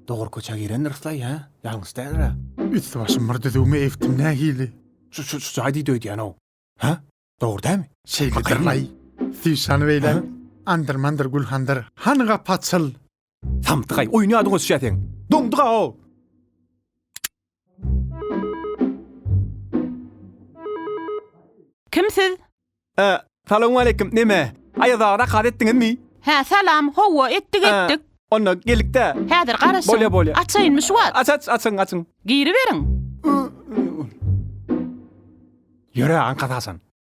Dogry köçä girendirisla ýa ýalňyş dälira? Üsti başym bir düzüwmi egtim nähili? Şu şu jaý diýdi öýdýän-ow. Hä? Dogry dämi? Şeýledir-laý. Syşany beýle andyr-mandyr gülhandyr. Hany gapy açyl! Samsyk-aý, oýun ýadyňa düşýä seň. Doňduk-a-ow! Kim siz? Ä, salowmaleýkim, neme, Aýazaga zakat etdiňizmi? Hä, salam, hawa, etdik, Ä, etdik. onda, gelik-dä. Häzir garaşyň. Bolýa, bolýa. Açaýynmy şu wagt? Aç, aç, açyň, açyň. Giriberiň. Ýöre, aňkasy haçan?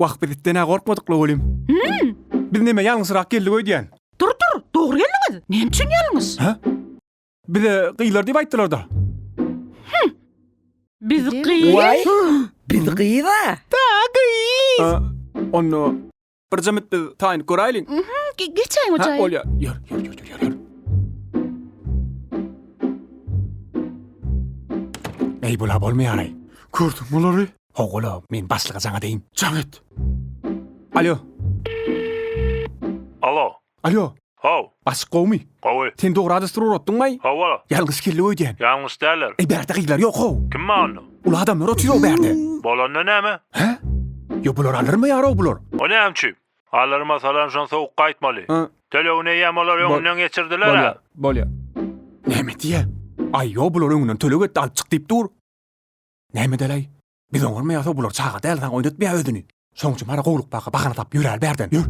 Wah biz itden-ä gorkmadykla welin. Biz näme ýalňyşyrak geldik öýdýän. Tur tur, dogry geldiňiz. Näme üçin ýalňyş? Hä? Bize gyzlar diýip aýtdylarda. Biz gyz. Waý. Biz gyz-a. A, Onda bir jemit biz taýynyp göräýliň. Ge- Geçäýiň Ha, ojaýyň. bolýar. Ýör, ýör, ýör, ýör, ýör, ýör. Eý, bula bolmaýar-aý. Gördüň bulary? Howala, men başlyga jaň edeýin. Jaň et. Alýo. Alo. Alýo. How. Başlyk gowumy? Gowy. Sen dogry adresdir uratdyňmaý? Hawa. Ýalňyş geldi öýdýän. Ýalňyş däller. Eý bärde gyzlar ýok how. Kim bar onda? Uly adamlar otyr-ow bärde. Bolanda näme? Hä? Ýo bular alyrmy ýarow bular? O näme üçin? Alyrym asalam şony sowuk gaýtmaly. Hä. Tölegini eýýäm olar öňünden geçirdiler-ä. Bolýa, bolýa. Näme diýýä? Aý ýo bular öňünden töleg etdi alyp çyk diýip dur. Näme edäläý? Biz oňarmy ýa-da bular çaga däl saňa oýnatmaýa özüni. Şoň üçin bara gowluk baka bahana tapyp ýöräli bärden. Ýör.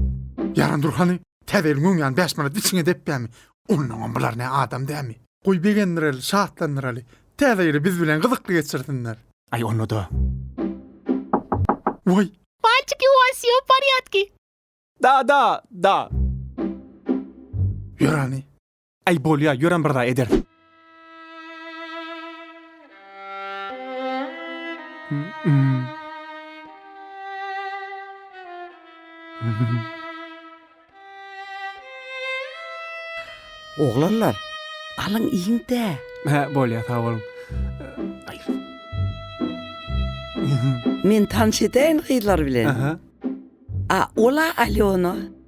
Ýaran dur hany, täze ýylyň öň ýan bäş manat içiňe depýämi? Onnoňam bular ne adam dämi? Goý begendiräli, şatlandyraly. Täze ýyly biz bilen gyzykly geçirsinler. Aý onda-da. Waý! Malçiki u vas vsýo v porýadki? Da, da, da. Ýör hany. Äý, bolýa, ýörem bir zat ederis. Oglanlar, alyň iýiň-dä. Hä, bolýa, sag boluň. Men tanyş edeýin gyzlar bilen. A, ol-a Alýona.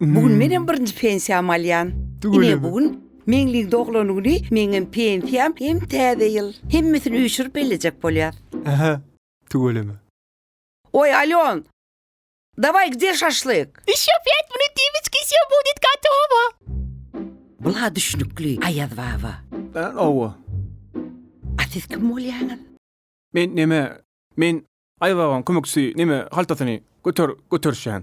Bu gün menem birinji pensiýamy alýan. Ine bu gün Meňliň doglan güni meňem pensiýam hem täze ýyl. Hemmesini üýşürip bellejek bolýas. Ähä. Tüweleme. Oý Alýon. Daway gde şaşlyk? Ýşo pýat minut Dimiçka wsýo budit gatowo. Bula düşnükli Aýaz baba. Än owo. A siz kim bolýaňyz? Men neme men Aýaz babaň kömekçisi neme haltasyny göter göterişýän.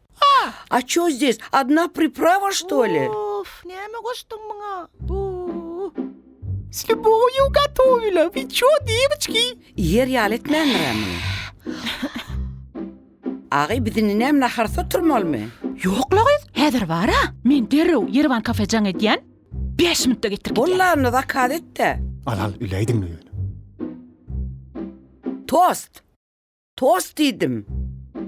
A ço zdes adna priprava što li? Uff, näme goşduň muňa? Uuh. S ljubowyýu gatowyla, wy čo, dewiçki? Iýer ýaly etmändir-ä muny. Agay biz indi näme naharsyz oturmalymy? Ýok-la gyz, häzir bar-a. Men derrew Ýeriwan kafe jaň edýän. Bäş minutda getirip gidýän. Bolla onda zakaz et-de. Al al, üleýdiňmi ýöne? Tost. Tost diýdim.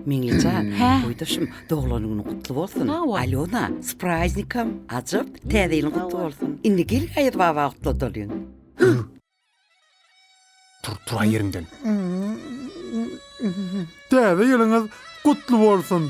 Meňlijan, goýdaşym, doglan güni gutly bolsun. Sag bol. Alýona, s praýznikam, ajap, täze ýylyň gutly bolsun. Indi gel Gaýyr baba gutla dolyň. Tur, tur aý ýeriňden. Täze ýylyňyz gutly bolsun.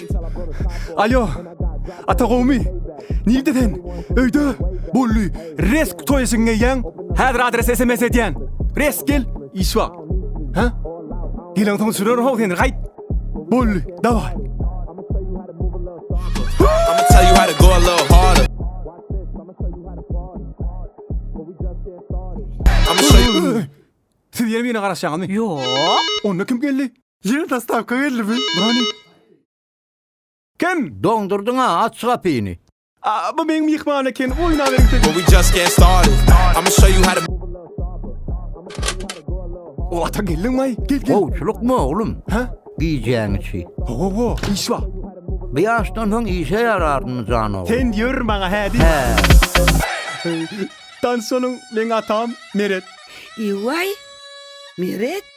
Алё, ata gowmy? Nirde sen? Öýde? Bolly, resk toý eşigini geýýäň? Häzir adres sms edýän. Resk gel, iş bar. Hä? Gelen soň düşürerin how seni, gaýt. Bolly, dawaý. Siz ýene birine garaşýaňyzmy? Ýok. Onda kim geldi? Ýene dostawka geldimi? Brony. Kim? Doňdurdyň-a, aç şu gapyny. A, bu meň myhman eken, oýnaberiň siz. But we just getting started. I'ma show you how to. O, ata geldiňmi-aý? Gel, gel. Gowçulykmy, oglum? Hä? Gijäň içi. Ho-ho-ho, iş bar. Bu ýaşdan soň işe ýararmy, jan ogul? Sen ýör maňa hä diý. Hä. Tanyş boluň, meň atam Meret. Eý-waý, Meret,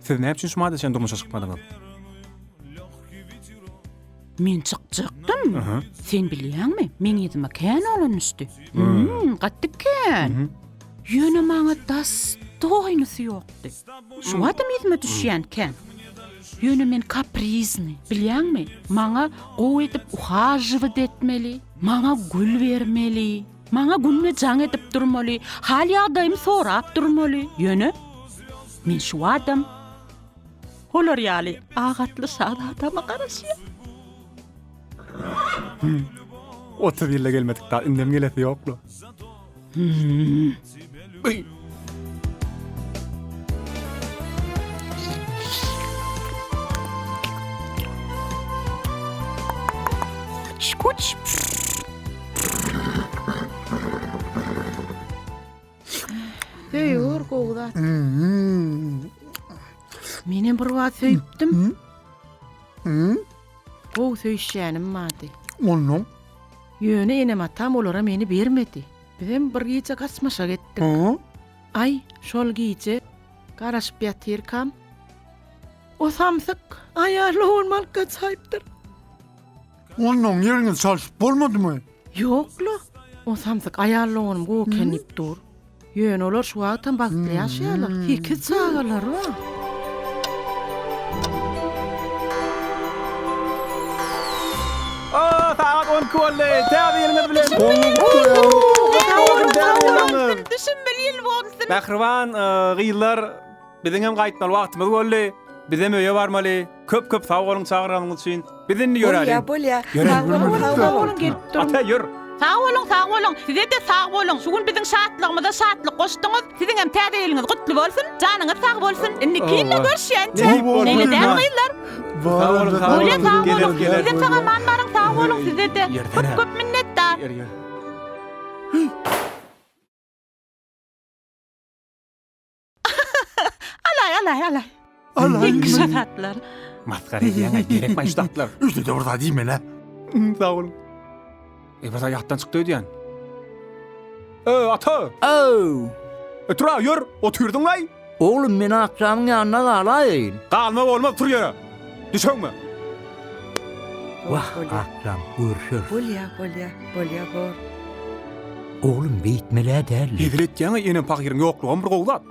Siz näme üçin şumadyr çen durmuşa çykmadyňyz? Men çykjakdym. Sen bilýäňmi, meň ýüzüme kän oglan düşdi. Hmm, gatdy kän. Ýöne maňa das doýnusy ýokdy. Şu adam ýüzüme düşýän kän. Ýöne men kaprizni, bilýäňmi? Maňa gowy edip uhajywyt etmeli, maňa gül bermeli. Maňa günde jaň edip durmaly, hal-ýagdaýymy sorap durmaly, ýöne men şu adam. Olar ýaly ak atly şazadama garaşýar. Otuz ýylda gelmedik dag, indem gelesi ýok-la. Gyy. Şkuç. Söýür gowy zat. Men hem bir wagt söýüpdim. Gowy söýüşýänim bardy. Ondan Ýöne enem atam olara meni bermedi. Bizem bir gije gaçmaşa gitdik. Hä? Aý, şol gije garaşyp ýatyrkam, o samsyk aýal lowuny alyp gaçaýypdyr. Onnoň ýeriňi çalşyp bolmadymy? Ýok-la. O samsyk aýal lowunym gowy eken diýip dur. Ýöne olar şu wagtam bagtly ýaşaýarlar. Sekiz çagalary bar. Oo sagat on iki boldy täze ýylyňyz bilen gutly bolsun täze ýylyňyz Düşün bir ýyl bolsun. Mähriban gyzlar biziňem gaýtmaly wagtymyz boldy bizem öýe barmaly köp köp sag boluň çagyranyňyz üçin biz indi ýöräliň bolýa bolýa sag boluň gelip duruň ata ýör. Sag boluň sag boluň sizede sag boluň şu gün biziň şatlygymyza şatlyk goşdyňyz siziňem täze ýylyňyz gutly bolsun janyňyz sag bolsun indiki ýylda görüşýänçä meňedäl gyzlar. Sag boluň sag boluň. Öle sag boluň. Size sag aman baryň sag boluň sizede. Köp köp minnetdar. Alaý alaý alaý. Ýeňki şatatlar. Masgara edýäňä gerekmaý şu zatlar. Üstede bir zat iýmelä. Sag boluň. Ebada ýatdan çykdy öýdýän. Ö, ata! Öw! E, tur-a, ýör, otyrdyň-laý! Oglum, men akjamyň ýanynda galaýyn. Galma bolmaz, tur ýere! Düşeňme! Wah, akjam, görüşeris. Bolýa, bolýa, bolýa, bor. Oglum, beýtmeli-ä däldi. Hezil etýäň-ä, enem pahyryň ýoklugam bir gowy zat.